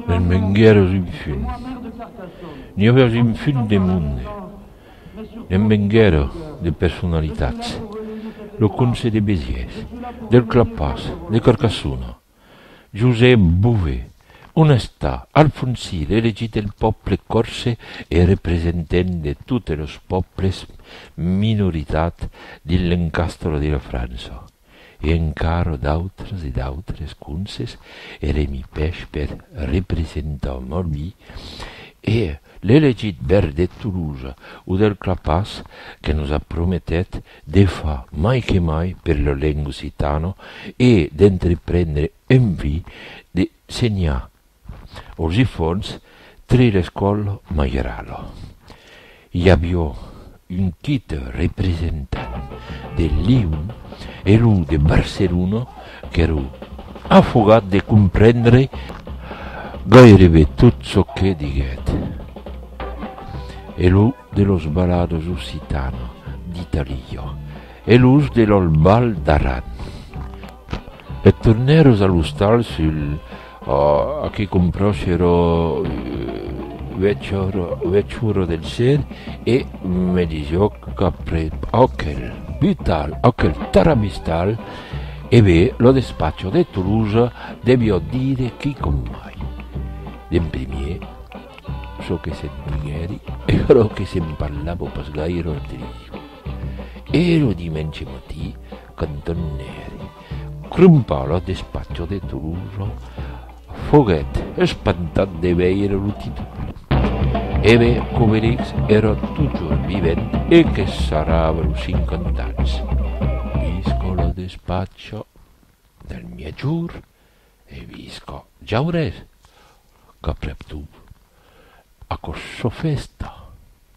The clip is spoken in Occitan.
Me'n venguère un fum. N'i auèrs un fum de monde. Ne'n venguère de personalitats. Lo comse de Besièrs, del Clapàs, de Carcassona. Josep Bové, on està? Alfonsir, elegit del pòble còrse e representent de totes los pòbles minoritats dins l'encastre de la França. e encara d'autres e d'autres conses, Eremi Pèchpèr, representant nòbi, e l'elegit bèr de Tolosa o del Clapàs que nos a prometèt de far mai que mai per la lenga occitana e d'entreprendre envir de senhar Os ifòns tre l'escòl Majeralo. I avió un tit representant de Lion e lo de Barcelona qu'èro afogat de comprendre gairebe tot çò que diguèt. E lo de los balados occitana d'Italia e los de l'Albal d'Aran. E tornèros a l'ostal sul a que compròscero uech oro del ser e me disió qu'aprep aquel butal, aquel taramistal, e be lo despacho de Tolosa devió dire quicòm mai. D'en primier, çò que se'n diguèri e aquerò que se'n parlava pas gaire lo trisio. E lo dimenge matí, Qu'Antòn Nèri, crompar lo despatge de Tolosa, foguèt espantat de veire lo títol. Eve Covellix èra totjorn vivent e que sarrava los cinquanta ans. Visca lo despatge del miègjorn e visca Jaurès, qu'aprèp tot, aquò çò fèsta!